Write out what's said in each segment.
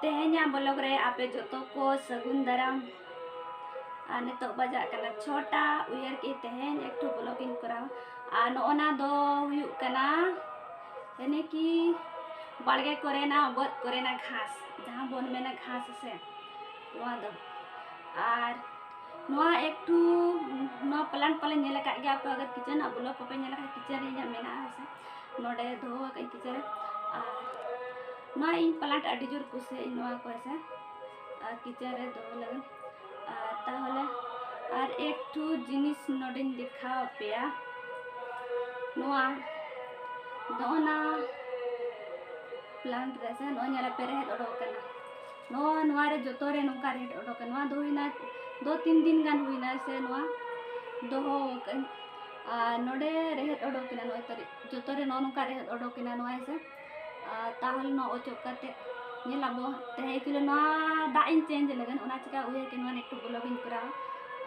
ᱛᱮᱦᱮᱧᱟᱜ ᱵᱞᱚᱜᱽ ᱨᱮ ᱟᱯᱮ ᱡᱚᱛᱚ ᱠᱚ ᱥᱟᱹᱜᱩᱱ ᱫᱟᱨᱟᱢ ᱟᱨ ᱱᱤᱛᱚᱜ ᱵᱟᱡᱟᱜ ᱠᱟᱱᱟ ᱪᱷᱚᱴᱟ ᱩᱭᱦᱟᱹᱨ ᱠᱮᱫ ᱛᱮᱦᱮᱧ ᱮᱠᱴᱩ ᱵᱞᱚᱜᱽ ᱤᱧ ᱠᱚᱨᱟᱣᱟ ᱟᱨ ᱱᱚᱜᱼᱚᱱᱟ ᱫᱚ ᱦᱩᱭᱩᱜ ᱠᱟᱱᱟ ᱮᱱᱮ ᱠᱤ ᱵᱟᱲᱜᱮ ᱠᱚᱨᱮᱱᱟᱜ ᱵᱟᱹᱫᱽ ᱠᱚᱨᱮᱱᱟᱜ ᱜᱷᱟᱥ ᱡᱟᱦᱟᱸ ᱵᱚᱱ ᱢᱮᱱᱟ ᱜᱷᱟᱥ ᱥᱮ ᱱᱚᱣᱟ ᱫᱚ ᱟᱨ ᱱᱚᱣᱟ ᱮᱠᱴᱩ ᱱᱚᱣᱟ ᱯᱞᱟᱱᱴ ᱯᱟᱞᱮ ᱧᱮᱞ ᱟᱠᱟᱫ ᱜᱮᱭᱟ ᱯᱮ ᱟᱜᱟᱨ ᱠᱤᱪᱮᱱᱟᱜ ᱵᱞᱚᱜᱽ ᱠᱚᱯᱮ ᱧᱮᱞ ᱟᱠᱟᱫ ᱠᱤᱪᱮᱱ ᱨᱮ ᱤᱧᱟᱹᱜ ᱢᱮᱱᱟᱜᱼᱟ ᱥᱮ ᱱᱚᱰᱮ ᱫᱚᱦᱚ ᱟᱠᱟᱫ ᱟᱹᱧ ᱠᱤᱪᱮᱱ ᱨᱮ ᱟᱨ ᱱᱚᱣᱟ ᱤᱧ ᱯᱞᱟᱱᱴ ᱟᱹᱰᱤ ᱡᱳᱨ ᱠᱩᱥᱤᱭᱟᱜ ᱟᱹᱧ ᱱᱚᱣᱟ ᱠᱚ ᱦᱮᱸᱥᱮ ᱟᱨ ᱠᱤᱪᱮᱱ ᱨᱮ ᱫᱚᱦᱚ ᱞᱟᱹᱜᱤᱫ ᱟᱨ ᱛᱟᱦᱚᱞᱮ ᱟᱨ ᱮᱠᱴᱩ ᱡᱤᱱᱤᱥ ᱱᱚᱰᱮᱧ ᱫᱮᱠᱷᱟᱣ ᱟᱯᱮᱭᱟ ᱱᱚᱣᱟ ᱱᱚᱜᱼᱚᱱᱟ ᱯᱞᱟᱱᱴ ᱨᱮ ᱥᱮ ᱱᱚᱜᱼᱚᱭ ᱧᱮᱞ ᱯᱮ ᱨᱮᱦᱮᱫ ᱚᱰᱚᱠ ᱟᱠᱟᱱᱟ ᱱᱚᱣᱟ ᱱᱚᱣᱟ ᱨᱮ ᱡᱚᱛᱚ ᱨᱮ ᱱᱚᱝᱠᱟ ᱨᱮᱦᱮᱫ ᱚᱰᱚᱠ ᱟᱠᱟᱱᱟ ᱱᱚᱣᱟ ᱫᱚ ᱦᱩᱭᱱᱟ ᱫᱩ ᱛᱤᱱ ᱫᱤᱱ ᱜᱟᱱ ᱦᱩᱭᱱᱟ ᱥᱮ ᱱᱚᱣᱟ ᱫᱚᱦᱚ ᱟᱠᱟᱫ ᱟᱹᱧ ᱟᱨ ᱱᱚᱰᱮ ᱨᱮᱦᱮᱫ ᱚᱰᱚᱠ ᱮᱱᱟ ᱱᱚᱜᱼᱚᱭ ᱛᱟᱹᱨᱤ ᱡᱚᱛᱚ ᱨᱮ ᱱᱚᱜᱼᱚ ᱱᱚᱝᱠᱟ ᱨᱮᱦᱮᱫ ᱚᱰᱚᱠ ᱮᱱᱟ ᱱᱚᱣᱟ ᱦᱮᱸᱥᱮ ᱟᱨ ᱛᱟᱦᱚᱞᱮ ᱱᱚᱣᱟ ᱚᱪᱚᱜ ᱠᱟᱛᱮ ᱧᱮᱞ ᱟᱵᱚ ᱛᱟᱦᱮᱸ ᱮᱠᱪᱩᱭᱮᱞᱤ ᱱᱚᱣᱟ ᱫᱟᱜ ᱤᱧ ᱪᱮᱧᱡᱽ ᱞᱟᱹᱜᱤᱫ ᱚᱱᱟ ᱪᱤᱠᱟ ᱩᱭᱦᱟᱹᱨ ᱠᱮᱫ ᱱᱚᱣᱟ ᱮᱠᱴᱩ ᱵᱞᱚᱜᱽ ᱤᱧ ᱠᱚᱨᱟᱣᱟ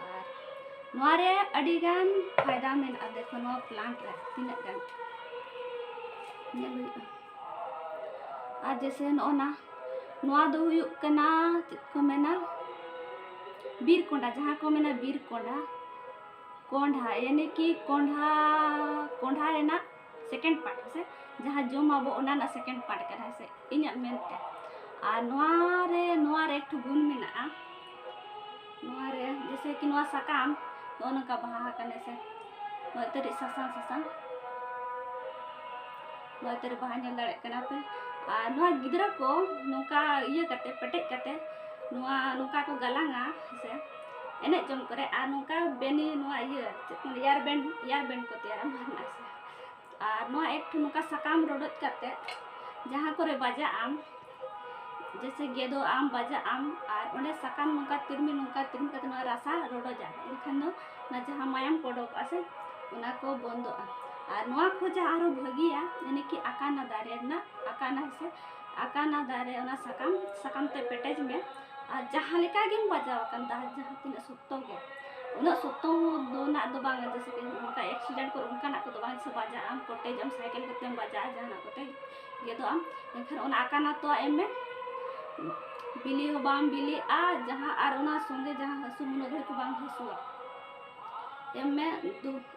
ᱟᱨ ᱱᱚᱣᱟ ᱨᱮ ᱟᱹᱰᱤ ᱜᱟᱱ ᱯᱷᱟᱭᱫᱟ ᱢᱮᱱᱟᱜᱼᱟ ᱫᱮᱠᱷᱚ ᱱᱚᱣᱟ ᱯᱞᱟᱱᱴ ᱨᱮ ᱛᱤᱱᱟᱹᱜ ᱜᱟᱱ ᱧᱮᱞ ᱦᱩᱭᱩᱜᱼᱟ ᱟᱨ ᱡᱮᱥᱮ ᱱᱚᱜᱼᱚ ᱱᱟ ᱱᱚᱣᱟ ᱫᱚ ᱦᱩᱭᱩᱜ ᱠᱟᱱᱟ ᱪᱮᱫ ᱠᱚ ᱢᱮᱱᱟ ᱵᱤᱨ ᱠᱚᱸᱰᱟ ᱡᱟᱦᱟᱸ ᱠᱚ ᱢᱮᱱᱟ ᱵᱤᱨ ᱠᱚᱸᱰᱟ ᱠᱚᱸᱰᱷᱟ ᱭᱟᱱᱤ ᱠᱤ ᱠᱚᱸᱰᱷᱟ ᱠᱚᱸᱰᱷᱟ ᱨᱮᱱᱟᱜ ᱥᱮᱠᱮᱱᱰ ᱯᱟᱨᱴ ᱦᱮᱸᱥᱮ ᱡᱟᱦᱟᱸ ᱡᱚᱢ ᱟᱵᱚ ᱚᱱᱟ ᱨᱮᱱᱟᱜ ᱥᱮᱠᱮᱱᱰ ᱯᱟᱨᱴ ᱠᱟᱱᱟ ᱦᱮᱸᱥᱮ ᱤᱧᱟᱹᱜ ᱢᱮᱱᱛᱮ ᱟᱨ ᱱᱚᱣᱟ ᱨᱮ ᱱᱚᱣᱟ ᱨᱮ ᱮᱠᱴᱩ ᱜᱩᱱ ᱢᱮᱱᱟᱜᱼᱟ ᱱᱚᱣᱟ ᱨᱮ ᱡᱮᱥᱮ ᱠᱤ ᱱᱚᱣᱟ ᱥᱟᱠᱟᱢ ᱱᱚᱜᱼᱚ ᱱᱚᱝᱠᱟ ᱵᱟᱦᱟ ᱟᱠᱟᱱᱟ ᱦᱮᱸᱥᱮ ᱱᱚᱜᱼᱚᱭ ᱛᱟᱹᱨᱤᱡ ᱥᱟᱥᱟᱝ ᱥᱟᱥᱟᱝ ᱱᱚᱜᱼᱚᱭ ᱛᱟᱹᱨᱤᱡ ᱵᱟᱦᱟ ᱧᱮᱞ ᱫᱟᱲᱮᱭᱟᱜ ᱠᱟᱱᱟ ᱯᱮ ᱟᱨ ᱱᱚᱣᱟ ᱜᱤᱫᱽᱨᱟᱹ ᱠᱚ ᱱᱚᱝᱠᱟ ᱤᱭᱟᱹ ᱠᱟᱛᱮ ᱯᱮᱴᱮᱡ ᱠᱟᱛᱮ ᱱᱚᱣᱟ ᱱᱚᱝᱠᱟ ᱠᱚ ᱜᱟᱞᱟᱝᱟ ᱦᱮᱸᱥᱮ ᱮᱱᱮᱡ ᱡᱚᱝ ᱠᱚᱨᱮ ᱟᱨ ᱱᱚᱝᱠᱟ ᱵᱮᱱᱤ ᱱᱚᱣᱟ ᱤᱭᱟᱹ ᱪᱮᱫ ᱠᱚ ᱮᱭᱟᱨ ᱵᱮᱱᱰ ᱮᱭᱟᱨ ᱵᱮᱱᱰ ᱠᱚ ᱛᱮᱭᱟᱨᱟ ᱢᱟᱨᱱᱟᱥ ᱟᱨ ᱱᱚᱣᱟ ᱮᱠ ᱴᱷᱮᱱ ᱱᱚᱝᱠᱟ ᱥᱟᱠᱟᱢ ᱨᱚᱰᱚᱡ ᱠᱟᱛᱮ ᱡᱟᱦᱟᱸ ᱠᱚᱨᱮ ᱵᱟᱡᱟᱜ ᱟᱢ ᱡᱮᱥᱮ ᱜᱮᱫᱚ ᱟᱢ ᱵᱟᱡᱟᱜ ᱟᱢ ᱟᱨ ᱚᱸᱰᱮ ᱥᱟᱠᱟᱢ ᱱᱚᱝᱠᱟ ᱛᱤᱨᱢᱤ ᱱᱚᱝᱠᱟ ᱛᱤᱨᱢᱤ ᱠᱟᱛᱮ ᱱᱚᱣᱟ ᱨᱟᱥᱟ ᱨᱚᱰᱚᱡᱟ ᱮᱱᱠᱷᱟᱱ ᱫᱚ ᱚᱱᱟ ᱡᱟᱦᱟᱸ ᱢᱟᱭᱟᱢ ᱠᱚ ᱚᱰᱚᱠᱚᱜᱼᱟ ᱥᱮ ᱚᱱᱟ ᱠᱚ ᱵᱚᱱᱫᱚᱜᱼᱟ ᱟᱨ ᱱᱚᱣᱟ ᱠᱷᱚᱱ ᱡᱟᱦᱟᱸ ᱟᱨᱦᱚᱸ ᱵᱷᱟᱹᱜᱤᱭᱟ ᱡᱟᱱᱮ ᱠᱤ ᱟᱠᱟᱱᱟ ᱫᱟᱨᱮ ᱨᱮᱱᱟᱜ ᱟᱠᱟᱱᱟ ᱥᱮ ᱟᱠᱟᱱᱟ ᱫᱟᱨᱮ ᱚᱱᱟ ᱥᱟᱠᱟᱢ ᱥᱟᱠᱟᱢ ᱛᱮ ᱯᱮᱴᱮᱡᱽ ᱢᱮ ᱟᱨ ᱡᱟᱦᱟᱸ ᱞᱮᱠᱟ ᱜᱮᱢ ᱵᱟᱡᱟᱣ ᱟᱠᱟᱱ ᱛᱟᱦᱮᱸ ᱡᱟᱦᱟᱸ ᱛᱤᱱᱟᱹᱜ ᱥᱚᱠᱛᱚ ᱜᱮ ᱩᱱᱟᱹᱜ ᱥᱚᱠᱛᱚ ᱫᱚ ᱱᱟᱜ ᱫᱚ ᱵᱟᱝ ᱡᱮᱥᱮ ᱠᱤ ᱚᱱᱠᱟ ᱮᱠᱥᱤᱰᱮᱱᱴ ᱠᱚᱨᱮ ᱚᱱᱠᱟᱱᱟᱜ ᱠᱚᱫᱚ ᱵᱟᱝ ᱥᱮ ᱵᱟᱡᱟᱜ ᱟᱢ ᱠᱚᱴᱮᱡ ᱟᱢ ᱥᱟᱭᱠᱮᱞ ᱠᱚᱛᱮᱢ ᱵᱟᱡᱟᱜᱼᱟ ᱡᱟᱦᱟᱱᱟᱜ ᱠᱚᱛᱮ ᱜᱮᱫᱚᱜ ᱟᱢ ᱮᱱᱠᱷᱟᱱ ᱚᱱᱟ ᱟᱠᱟᱱᱟ ᱛᱚ ᱮᱢ ᱢᱮ ᱵᱤᱞᱤ ᱦᱚᱸ ᱵᱟᱢ ᱵᱤᱞᱤᱜᱼᱟ ᱡᱟᱦᱟᱸ ᱟᱨ ᱚᱱᱟ ᱥᱚᱸᱜᱮ ᱡᱟᱦᱟᱸ ᱦᱟᱹᱥᱩ ᱩᱱᱟᱹᱜ ᱜᱷᱟᱹᱲᱤᱡ ᱫᱚ ᱵᱟᱝ ᱦᱟᱹᱥᱩᱣᱟ ᱮᱢ ᱢᱮ ᱫᱩ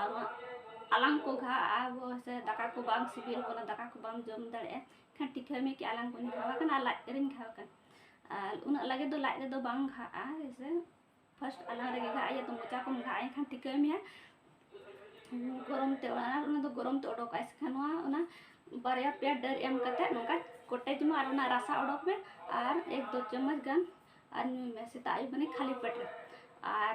ᱟᱨ ᱟᱞᱟᱝ ᱠᱚ ᱜᱷᱟᱜᱼᱟ ᱥᱮ ᱫᱟᱠᱟ ᱠᱚ ᱵᱟᱝ ᱥᱤᱵᱤᱞ ᱠᱟᱱᱟ ᱫᱟᱠᱟ ᱠᱚ ᱵᱟᱢ ᱡᱚᱢ ᱫᱟᱲᱮᱭᱟᱜᱼᱟ ᱮᱱᱠᱷᱟᱱ ᱴᱤᱠᱷᱟᱹ ᱢᱮᱠᱮ ᱟᱞᱟᱝ ᱠᱚᱧ ᱜᱷᱟᱣ ᱟᱠᱟᱱᱟ ᱟᱨ ᱞᱟᱡ ᱨᱮᱧ ᱜᱷᱟᱣ ᱟᱠᱟᱱᱟ ᱟᱨ ᱩᱱᱟᱹᱜ ᱞᱟᱜᱮ ᱫᱚ ᱞᱟᱡ ᱨᱮᱫᱚ ᱵᱟᱝ ᱜᱷᱟᱜᱼᱟ ᱦᱮᱸᱥᱮ ᱯᱷᱟᱥᱴ ᱟᱞᱟᱝ ᱨᱮᱜᱮ ᱜᱷᱟᱜ ᱤᱭᱟᱹ ᱛᱚ ᱢᱚᱪᱟ ᱠᱚᱢ ᱜᱷᱟᱜᱼᱟ ᱮᱱᱠᱷᱟᱱ ᱴᱤᱠᱟᱹ ᱢᱮᱭᱟ ᱜᱚᱨᱚᱢ ᱛᱮ ᱚᱱᱟ ᱚᱱᱟ ᱫᱚ ᱜᱚᱨᱚᱢ ᱛᱮ ᱚᱰᱚᱠᱚᱜᱼᱟ ᱮᱱᱠᱷᱟᱱ ᱱᱚᱣᱟ ᱚᱱᱟ ᱵᱟᱨᱭᱟ ᱯᱮᱭᱟ ᱰᱟᱹᱨ ᱮᱢ ᱠᱟᱛᱮ ᱱᱚᱝᱠᱟ ᱠᱚᱴᱮᱡ ᱢᱟ ᱟᱨ ᱚᱱᱟ ᱨᱟᱥᱟ ᱚᱰᱚᱠ ᱢᱮ ᱟᱨ ᱮᱠ ᱫᱚ ᱪᱟᱢᱚᱪ ᱜᱟᱱ ᱟᱨ ᱧᱩᱭ ᱢᱮ ᱥᱮᱛᱟᱜ ᱟᱹᱭᱩᱵ ᱢᱟᱱᱮ ᱠᱷᱟᱹᱞᱤ ᱯᱮᱴ ᱨᱮ ᱟᱨ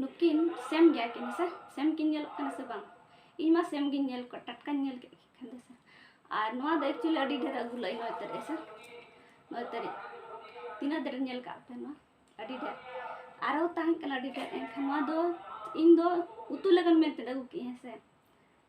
ᱱᱩᱠᱤᱱ ᱥᱮᱢ ᱜᱮᱭᱟ ᱠᱤᱱ ᱥᱮ ᱥᱮᱢ ᱠᱤᱱ ᱧᱮᱞᱚᱜ ᱠᱟᱱᱟ ᱥᱮ ᱵᱟᱝ ᱤᱧ ᱢᱟ ᱥᱮᱢ ᱜᱤᱧ ᱧᱮᱞ ᱠᱚᱣᱟ ᱴᱟᱴᱠᱟᱧ ᱧᱮᱞ ᱠᱮᱫ ᱠᱤᱱ ᱠᱷᱟᱱ ᱫᱚ ᱥᱮ ᱟᱨ ᱱᱚᱣᱟ ᱫᱚ ᱮᱠᱪᱩᱭᱮᱞᱤ ᱟᱹᱰᱤ ᱰᱷᱮᱨ ᱟᱹᱜᱩ ᱞᱟᱹᱭ ᱱᱚᱭ ᱛᱟᱹᱨᱤᱡ ᱥᱮ ᱱᱚᱭ ᱛᱟᱹᱨᱤᱡ ᱛᱤᱱᱟᱹᱜ ᱰᱷᱮᱨ ᱧᱮᱞ ᱠᱟᱜ ᱯᱮ ᱱᱚᱣᱟ ᱟᱹᱰᱤ ᱰᱷᱮᱨ ᱟᱨᱚ ᱛᱟᱦᱮᱸ ᱠᱟᱱᱟ ᱟᱹᱰᱤ ᱰᱷᱮᱨ ᱮᱱᱠᱷᱟᱱ ᱱᱚᱣᱟ ᱫᱚ ᱤᱧ ᱫᱚ ᱩᱛᱩ ᱞᱟᱹᱜᱤᱫ ᱢᱮᱱᱛᱮ ᱟᱹᱜᱩ ᱠᱮᱫᱼᱟ ᱦᱮᱸ ᱥᱮ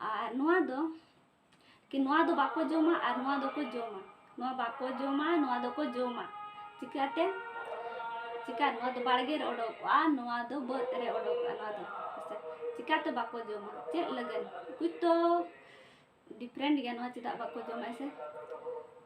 ᱟᱨ ᱱᱚᱣᱟ ᱫᱚ ᱠᱤ ᱱᱚᱣᱟ ᱫᱚ ᱵᱟᱠᱚ ᱡᱚᱢᱟ ᱟᱨ ᱱᱚᱣᱟ ᱫᱚᱠᱚ ᱡᱚᱢᱟ ᱱᱚᱣᱟ ᱵᱟᱠᱚ ᱡᱚᱢᱟ ᱱᱚᱣᱟ ᱫᱚᱠᱚ ᱡᱚᱢᱟ ᱪᱤᱠᱟᱹᱛᱮ ᱪᱤᱠᱟᱹ ᱱᱚᱣᱟ ᱫᱚ ᱵᱟᱲᱜᱮ ᱨᱮ ᱚᱰᱚᱠᱚᱜᱼᱟ ᱱᱚᱣᱟ ᱫᱚ ᱵᱟᱹᱫᱽ ᱨᱮ ᱚᱰᱚᱠᱚᱜᱼᱟ ᱱᱚᱣᱟ ᱫᱚ ᱦᱮᱸᱥᱮ ᱪᱤᱠᱟᱹᱛᱮ ᱵᱟᱠᱚ ᱡᱚᱢᱟ ᱪᱮᱫ ᱞᱟᱹᱜᱤᱫ ᱠᱩᱪ ᱛᱚ ᱰᱤᱯᱷᱨᱮᱱᱴ ᱜᱮᱭᱟ ᱱᱚᱣᱟ ᱪᱮᱫᱟᱜ ᱵᱟᱠᱚ ᱡᱚᱢᱟ ᱦᱮᱸᱥᱮ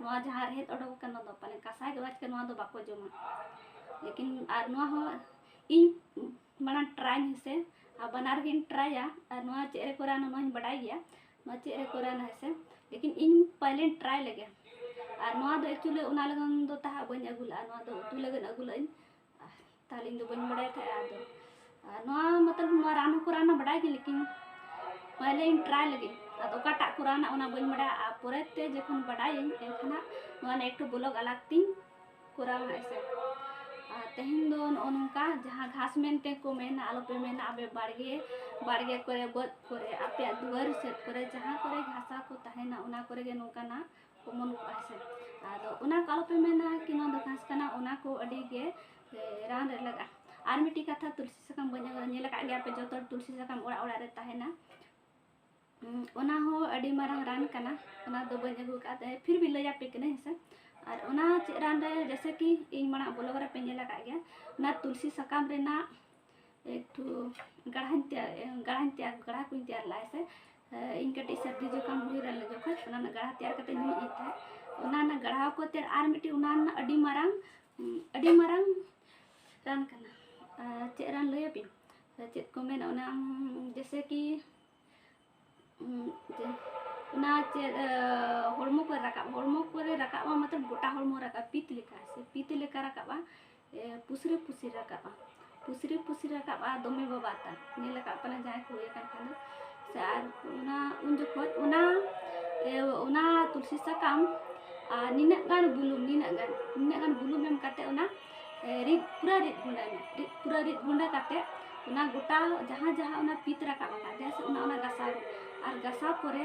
ᱱᱚᱣᱟ ᱡᱟᱦᱟᱸ ᱨᱮᱦᱮᱫ ᱚᱰᱚᱠ ᱟᱠᱟᱱ ᱱᱚᱣᱟ ᱫᱚ ᱯᱟᱞᱮ ᱠᱟᱥᱟᱭ ᱜᱮ ᱪᱤᱠᱟᱹ ᱱᱚᱣᱟ ᱫᱚ ᱵᱟᱠᱚ ᱡᱚᱢᱟ ᱞᱮᱠᱤᱱ ᱟᱨ ᱱᱚᱣᱟ ᱦᱚᱸ ᱤᱧ ᱢᱟᱲᱟᱝ ᱴᱨᱟᱭ ᱟᱹᱧ ᱦᱮᱸᱥᱮ ᱟᱨ ᱵᱟᱱᱟᱨ ᱜᱤᱧ ᱴᱨᱟᱭᱟ ᱟᱨ ᱱᱚᱣᱟ ᱪᱮᱫ ᱨᱮᱠᱚ ᱨᱟᱱᱟ ᱱᱚᱣᱟᱧ ᱵᱟᱰᱟᱭ ᱜᱮᱭᱟ ᱱᱚᱣᱟ ᱪᱮᱫ ᱨᱮᱠᱚ ᱨᱟᱱᱟ ᱦᱮᱸᱥᱮ ᱞᱮᱠᱤᱱ ᱤᱧ ᱯᱟᱹᱦᱤᱞᱤᱧ ᱴᱨᱟᱭ ᱞᱮᱜᱮ ᱟᱨ ᱱᱚᱣᱟ ᱫᱚ ᱮᱠᱪᱩᱞᱤ ᱚᱱᱟ ᱞᱟᱹᱜᱤᱫ ᱫᱚ ᱛᱟᱦᱟᱸᱜ ᱵᱟᱹᱧ ᱟᱹᱜᱩ ᱞᱟᱜᱼᱟ ᱱᱚᱣᱟ ᱫᱚ ᱩᱛᱩ ᱞᱟᱹᱜᱤᱫ ᱟᱹᱜᱩ ᱞᱟᱜ ᱟᱹᱧ ᱛᱟᱦᱚᱞᱮ ᱤᱧ ᱫᱚ ᱵᱟᱹᱧ ᱵᱟᱲᱟᱭ ᱛᱟᱦᱮᱸᱜᱼᱟ ᱟᱫᱚ ᱱᱚᱣᱟ ᱢᱚᱛᱞᱚᱵ ᱱᱚᱣᱟ ᱨᱟᱱ ᱦᱚᱸᱠᱚ ᱨᱟᱱᱟ ᱵᱟᱰᱟᱭ ᱜᱮ ᱞᱮᱠᱤᱱ ᱯᱟᱦᱞᱮ ᱤᱧ ᱴᱨᱟᱭ ᱞᱟᱹᱜᱤᱫ ᱟᱫᱚ ᱚᱠᱟᱴᱟᱜ ᱠᱚ ᱨᱟᱱᱟ ᱚᱱᱟ ᱵᱟᱹᱧ ᱵᱟᱰᱟᱭᱟ ᱟᱨ ᱯᱚᱨᱮ ᱛᱮ ᱡᱚᱠᱷᱚᱱ ᱵᱟᱰᱟᱭᱟᱹᱧ ᱮᱱᱠᱷᱟᱱ ᱱᱚᱣᱟ ᱨᱮᱱᱟᱜ ᱮᱠᱴᱩ ᱵᱞᱚᱜ ᱟᱞᱟᱜᱽ ᱛᱤᱧ ᱠᱚᱨᱟᱣᱟ ᱦᱟᱸᱜ ᱥᱮ ᱟᱨ ᱛᱮᱦᱮᱧ ᱫᱚ ᱱᱚᱜᱼᱚ ᱱᱚᱝᱠᱟ ᱡᱟᱦᱟᱸ ᱜᱷᱟᱥ ᱢᱮᱱᱛᱮ ᱠᱚ ᱢᱮᱱᱟ ᱟᱞᱚᱯᱮ ᱢᱮᱱᱟ ᱟᱯᱮ ᱵᱟᱲᱜᱮ ᱵᱟᱲᱜᱮ ᱠᱚᱨᱮ ᱵᱟᱹᱫᱽ ᱠᱚᱨᱮ ᱟᱯᱮᱭᱟᱜ ᱫᱩᱣᱟᱹᱨ ᱥᱮᱫ ᱠᱚᱨᱮ ᱡᱟᱦᱟᱸ ᱠᱚᱨᱮ ᱜᱷᱟᱥᱟ ᱠᱚ ᱛᱟᱦᱮᱱᱟ ᱚᱱᱟ ᱠᱚᱨᱮ ᱜᱮ ᱱᱚᱝᱠᱟᱱᱟᱜ ᱚᱢᱚᱱ ᱠᱚᱜᱼᱟ ᱥᱮ ᱟᱫᱚ ᱚᱱᱟ ᱠᱚ ᱟᱞᱚᱯᱮ ᱢᱮᱱᱟ ᱠᱤ ᱱᱚᱣᱟ ᱫᱚ ᱜᱷᱟᱥ ᱠᱟᱱᱟ ᱚᱱᱟ ᱠᱚ ᱟᱹᱰᱤ ᱜᱮ ᱨᱟᱱ ᱨᱮ ᱞᱟᱜᱟᱜᱼᱟ ᱟᱨ ᱢᱤᱫᱴᱤᱡ ᱠᱟᱛᱷᱟ ᱛᱩᱞᱥᱤ ᱥᱟᱠᱟᱢ ᱵᱟᱹᱧ ᱟᱹᱜᱩ ᱧᱮᱞ ᱟᱠᱟᱫ ᱜᱮᱭᱟ ᱯᱮ ᱡᱚᱛᱚ ᱛᱩᱞᱥᱤ ᱥᱟᱠᱟᱢ ᱚᱲᱟᱜ ᱚᱲᱟᱜ ᱨᱮ ᱛᱟᱦᱮᱱᱟ ᱚᱱᱟ ᱦᱚᱸ ᱟᱹᱰᱤ ᱢᱟᱨᱟᱝ ᱨᱟᱱ ᱠᱟᱱᱟ ᱚᱱᱟ ᱫᱚ ᱵᱟᱹᱧ ᱟᱹᱜᱩ ᱟᱠᱟᱫ ᱯᱷᱤᱨ ᱵᱤ ᱞᱟᱹᱭ ᱟᱯᱮ ᱠᱟᱹᱱᱟᱹᱧ ᱦᱮᱸᱥᱮ ᱟᱨ ᱚᱱᱟ ᱪᱮᱫ ᱨᱟᱱ ᱨᱮ ᱡᱮᱥᱮ ᱠᱤ ᱤᱧ ᱢᱟᱲᱟᱝ ᱵᱞᱚᱜ ᱨᱮᱯᱮ ᱧᱮᱞ ᱟᱠᱟᱫ ᱜᱮᱭᱟ ᱚᱱᱟ ᱛᱩᱞᱥᱤ ᱥᱟᱠᱟᱢ ᱨᱮᱱᱟᱜ ᱮᱠᱴᱩ ᱜᱟᱲᱦᱟᱧ ᱛᱮᱭᱟᱨ ᱜᱟᱲᱦᱟᱧ ᱛᱮᱭᱟᱨ ᱜᱟᱲᱦᱟ ᱠᱚᱧ ᱛᱮᱭᱟᱨ ᱞᱟᱜᱼᱟ ᱦᱮᱸᱥᱮ ᱤᱧ ᱠᱟᱹᱴᱤᱡ ᱥᱟᱹᱨᱫᱤ ᱡᱚᱠᱷᱚᱱ ᱦᱩᱭ ᱞᱮᱱ ᱡᱚᱠᱷᱚᱱ ᱚᱱᱟ ᱨᱮᱱᱟᱜ ᱜᱟᱲᱦᱟ ᱛᱮᱭᱟᱨ ᱠᱟᱛᱮ ᱧᱩᱭᱮᱫ ᱛᱟᱦᱮᱸᱫ ᱚᱱᱟ ᱨᱮᱱᱟᱜ ᱜᱟᱲᱦᱟᱣ ᱠᱚᱛᱮ ᱟᱨ ᱢᱤᱫᱴᱤᱡ ᱚᱱᱟ ᱨᱮᱱᱟᱜ ᱟᱹᱰᱤ ᱢᱟᱨᱟᱝ ᱟᱹᱰᱤ ᱢᱟᱨᱟᱝ ᱨᱟᱱ ᱠᱟᱱᱟ ᱪᱮᱫ ᱨᱟᱱ ᱞᱟᱹᱭ ᱟᱹᱵᱤᱱ ᱪᱮᱫ ᱠᱚ ᱢᱮᱱᱟ ᱚᱱᱟ ᱡᱮᱥᱮ ᱠᱤ ᱚᱱᱟ ᱪᱮᱫ ᱦᱚᱲᱢᱚ ᱠᱚᱨᱮ ᱨᱟᱠᱟᱵ ᱦᱚᱲᱢᱚ ᱠᱚᱨᱮ ᱨᱟᱠᱟᱵᱼᱟ ᱢᱚᱛᱞᱚᱵ ᱜᱚᱴᱟ ᱦᱚᱲᱢᱚ ᱨᱟᱠᱟᱵ ᱯᱤᱛ ᱞᱮᱠᱟ ᱥᱮ ᱯᱤᱛ ᱞᱮᱠᱟ ᱨᱟᱠᱟᱵᱼᱟ ᱯᱩᱥᱨᱤ ᱯᱩᱥᱨᱤ ᱨᱟᱠᱟᱵᱼᱟ ᱯᱩᱥᱨᱤ ᱯᱩᱥᱨᱤ ᱨᱟᱠᱟᱵᱼᱟ ᱫᱚᱢᱮ ᱵᱟᱵᱟᱫᱟ ᱧᱮᱞ ᱟᱠᱟᱫ ᱯᱮ ᱯᱟᱞᱮᱱ ᱡᱟᱦᱟᱸᱭ ᱠᱚ ᱦᱩᱭ ᱟᱠᱟᱱ ᱠᱷᱟᱱ ᱫᱚ ᱥᱮ ᱟᱨ ᱚᱱᱟ ᱩᱱ ᱡᱚᱠᱷᱚᱡ ᱚᱱᱟ ᱚᱱᱟ ᱛᱩᱞᱥᱤ ᱥᱟᱠᱟᱢ ᱟᱨ ᱱᱤᱱᱟᱹᱜ ᱜᱟᱱ ᱵᱩᱞᱩᱝ ᱱᱤᱱᱟᱹᱜ ᱜᱟᱱ ᱱᱤᱱᱟᱹᱜ ᱜᱟᱱ ᱵᱩᱞᱩᱝ ᱮᱢ ᱠᱟᱛᱮ ᱚᱱᱟ ᱨᱤᱫ ᱯᱩᱨᱟᱹ ᱨᱤᱫ ᱜᱩᱸᱰᱟᱹᱭ ᱢᱮ ᱨᱤᱫ ᱯᱩᱨᱟᱹ ᱨᱤᱫ ᱜᱩᱸᱰᱟᱹ ᱠᱟᱛᱮ ᱚᱱᱟ ᱜᱚᱴᱟ ᱡᱟᱦᱟᱸ ᱡᱟᱦᱟᱸ ᱚᱱᱟ ᱯᱤᱛ ᱨᱟᱠᱟᱵ ᱟᱠᱟᱫ ᱡᱟᱦᱟᱸ ᱥᱮᱫ ᱚᱱᱟ ᱚᱱᱟ ᱜᱟᱥᱟᱣ ᱢᱮ ᱟᱨ ᱜᱟᱥᱟᱣ ᱯᱚᱨᱮ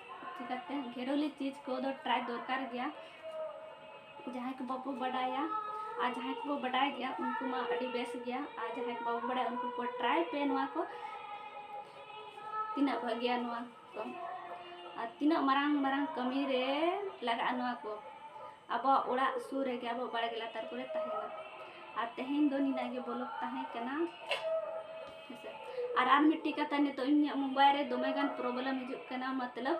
ᱪᱤᱠᱟᱹᱛᱮ ᱜᱷᱮᱨᱚᱞᱤ ᱪᱤᱡᱽ ᱠᱚᱫᱚ ᱴᱨᱟᱭ ᱫᱚᱨᱠᱟᱨ ᱜᱮᱭᱟ ᱡᱟᱦᱟᱸᱭ ᱠᱚ ᱵᱟᱵᱚ ᱵᱟᱰᱟᱭᱟ ᱟᱨ ᱡᱟᱦᱟᱸᱭ ᱠᱚᱵᱚ ᱵᱟᱰᱟᱭ ᱜᱮᱭᱟ ᱩᱱᱠᱩ ᱢᱟ ᱟᱹᱰᱤ ᱵᱮᱥ ᱜᱮᱭᱟ ᱟᱨ ᱡᱟᱦᱟᱸᱭ ᱠᱚ ᱵᱟᱵᱚ ᱵᱟᱰᱟᱭᱟ ᱩᱱᱠᱩ ᱠᱚ ᱴᱨᱟᱭ ᱯᱮ ᱱᱚᱣᱟ ᱠᱚ ᱛᱤᱱᱟᱹᱜ ᱵᱷᱟᱹᱜᱤᱭᱟ ᱱᱚᱣᱟ ᱠᱚ ᱟᱨ ᱛᱤᱱᱟᱹᱜ ᱢᱟᱨᱟᱝ ᱢᱟᱨᱟᱝ ᱠᱟᱹᱢᱤ ᱨᱮ ᱞᱟᱜᱟᱜᱼᱟ ᱱᱚᱣᱟ ᱠᱚ ᱟᱵᱚᱣᱟᱜ ᱚᱲᱟᱜ ᱥᱩᱨ ᱨᱮᱜᱮ ᱟᱵᱚ ᱵᱟᱲᱜᱮ ᱞᱟᱛᱟᱨ ᱠᱚᱨᱮ ᱛᱟᱦᱮᱱᱟ ᱟᱨ ᱛᱮᱦᱮᱧ ᱫᱚ ᱱᱤᱱᱟᱹᱜ ᱜᱮ ᱵᱚᱞᱚᱜ ᱛᱟᱦᱮᱸ ᱠᱟᱱᱟ ᱟᱨ ᱟᱨ ᱢᱤᱫᱴᱤᱡ ᱠᱟᱛᱷᱟ ᱱᱤᱛᱚᱜ ᱤᱧᱟᱹᱜ ᱢᱳᱵᱟᱭᱤᱞ ᱨᱮ ᱫᱚᱢᱮ ᱜᱟᱱ ᱯᱨᱚᱵᱞᱮᱢ ᱦᱤᱡᱩᱜ ᱠᱟᱱᱟ ᱢᱚᱛᱞᱚᱵ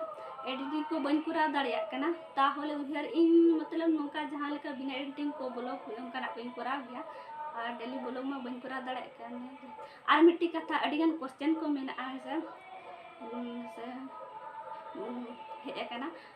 ᱮᱰᱤᱴᱤᱝ ᱠᱚ ᱵᱟᱹᱧ ᱠᱚᱨᱟᱣ ᱫᱟᱲᱮᱭᱟᱜ ᱠᱟᱱᱟ ᱛᱟᱦᱚᱞᱮ ᱩᱭᱦᱟᱹᱨ ᱤᱧ ᱢᱚᱛᱞᱚᱵ ᱱᱚᱝᱠᱟ ᱡᱟᱦᱟᱸ ᱞᱮᱠᱟ ᱵᱤᱱᱟ ᱮᱰᱤᱴᱤᱝ ᱠᱚ ᱵᱞᱚᱜ ᱚᱱᱠᱟᱱᱟᱜ ᱠᱚᱧ ᱠᱚᱨᱟᱣ ᱜᱮᱭᱟ ᱟᱨ ᱰᱮᱞᱤ ᱵᱞᱚᱜ ᱢᱟ ᱵᱟᱹᱧ ᱠᱚᱨᱟᱣ ᱫᱟᱲᱮᱭᱟᱜ ᱠᱟᱱ ᱟᱨ ᱢᱤᱫᱴᱤᱡ ᱠᱟᱛᱷᱟ ᱟᱹᱰᱤ ᱜᱟᱱ ᱠᱚᱥᱪᱮᱱ ᱠᱚ ᱢᱮᱱᱟᱜᱼᱟ ᱦᱮᱸᱥᱮ ᱦᱮᱸᱥᱮ ᱦᱮᱡ ᱟᱠᱟᱱᱟ